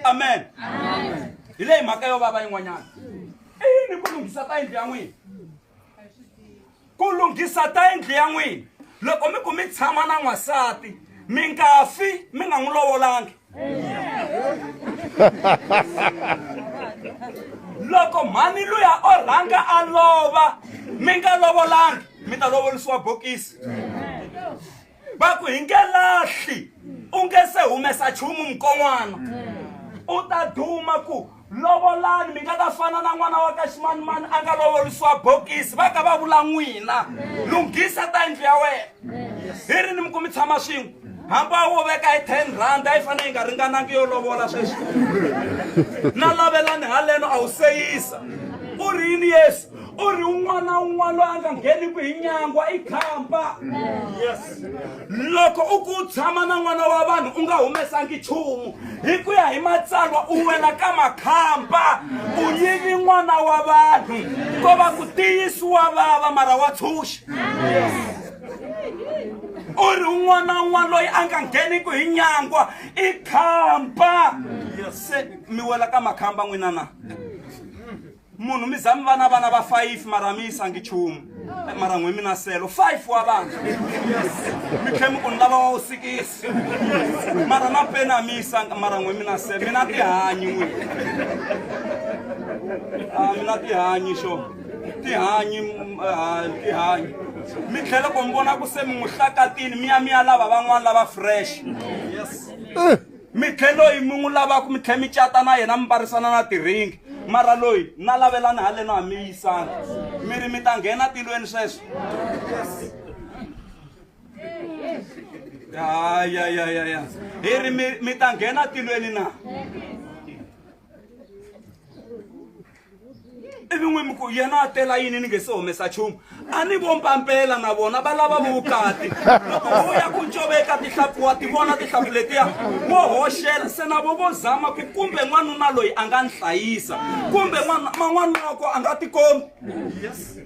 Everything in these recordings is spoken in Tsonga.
amen hi leyi mhaka yo vava yin'wanyana i yini ku lunghisa ta yindlu ya n'wina ku lunghisa ta yindlu ya n'wina loko mi ku mi tshama na n'wansati mi nga fi mi nga n'wi lovolangi loko mhani luya o rhanga a lova mi nga lovolangi mi ta lovolisiwa bokisi va ku hi nge lahli u nge se humesa chumu mukon'wana u ta duma ku lovolani mi nga ta fana na n'wana wa ka ximanimani a nga lovolisiwa bokisi va ka va vula n'wina lunghisa ta yindlu ya wena hi ri ni mi ku mi tshama swin'we hamba wo veka hi ten rand a yi fanele yi nga ringanangi yo lovola sweswi na lavelani haleno a wu seyisa u ri yini yesu u ri un'wana na un'wana loyi a nga ngheniku hi nyangwa i khampa loko u ku tshama na n'wana wa vanhu u nga humesangi nchumu hi ku ya hi matsalwa u wela ka makhamba u yivi n'wana wa vanhu ko va ku tiyisiwa vava mara wa tshunxa u ri un'wana na un'wana loyi a nga ngheniku hi nyangwa i khampa se mi wela ka makhamba n'wina na munhu mi za mi va na vana va fayifi mara mi yisangi chumu eh, mara n'wi mi na selo fayifi wa vana mi tlhe mi ku ni lava wa wu sikisi mara na peni a mi yisanga mara n'wi mi na selo mi na tihanyi n'wi a ah, mi na tihanyi xo tihanyi ah, tihanyi mi tlhela ku mi vona ku se mi n'wi hlakatini mi ya mi ya lava van'wana lava fresh yes. Eh. mi tlhe loyi mi n'wi lavaka mi tlhe mi cata na yena mi varisana na tiringi mara loyi na lavelani haleno ha mi yisana mi ri mi ta nghena tilweni sweswo ayayayaya hi ri mi mi ta nghena tilweni na ivi n'wi mi ku yena a tela yini ni nge se humesa nchumu a ni vo mpampela na vona va lava vukati loko ho ya ku ncoveka tihlampfu wa ti vona tihlampfu letiya wo hoxela se na vo vo zama ku kumbe n'wanuna loyi a nga ni hlayisa kumbe man'wana loko a nga tikombi yes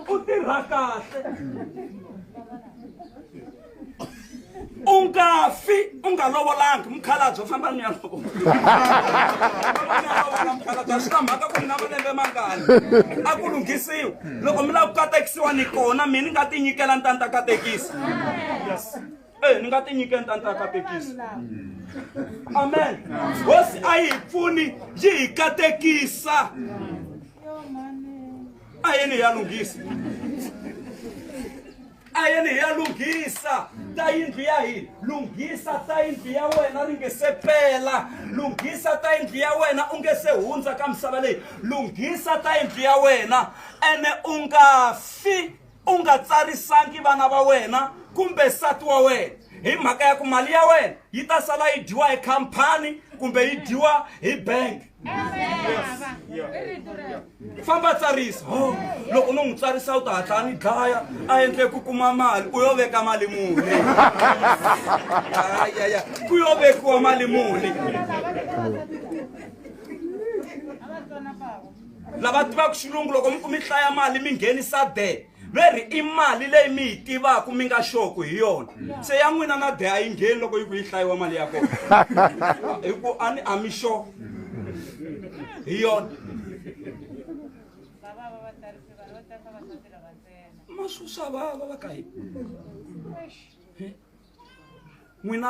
u tirha kahle u nga fi u nga lovolangi mukhalabye famba ni ya lovola mukhalabye swi na mhaka ku mi na malembe mangani a ku lunghisiwa loko mi lava ku katekisiwa ni kona mi ni nga ti nyikela ni ta ni ta katekisa e ni nga ti nyikela ni ta ni ta katekisa amen hosi a yi hi pfuni yi hi katekisa a yini ya lunghisa ta yena hi ya lunghisa ta yindlu ya hina lunghisa ta yindlu ya wena ri nge se pela lunghisa ta yindlu ya wena u nge se hundza ka misava leyi lunghisa ta yindlu ya wena ene u nga fi u nga tsarisangi vana va wena kumbe nsati wa wena hi mhaka ya ku mali ya wena yi ta sala yi dyiwa hi khampani kumbe yi dyiwa hi bank famba tsarisa oh, loko no n'wi tsarisa u ta hatla a ni dlaya a endle ku kuma mali u yo veka mali muni ayaya ku yo vekiwa mali muni lava tivaka xilungu loko mi ku mi hlaya mali mi nghenisa de ve ri i mali leyi mi yi tivaka mi nga xoku hi yona se ya n'wina na de a yi ngheni loko yi ku yi hlayiwa mali ya kona hi ku a ni a mi xo hi yona masusa vava va ka yi n'wina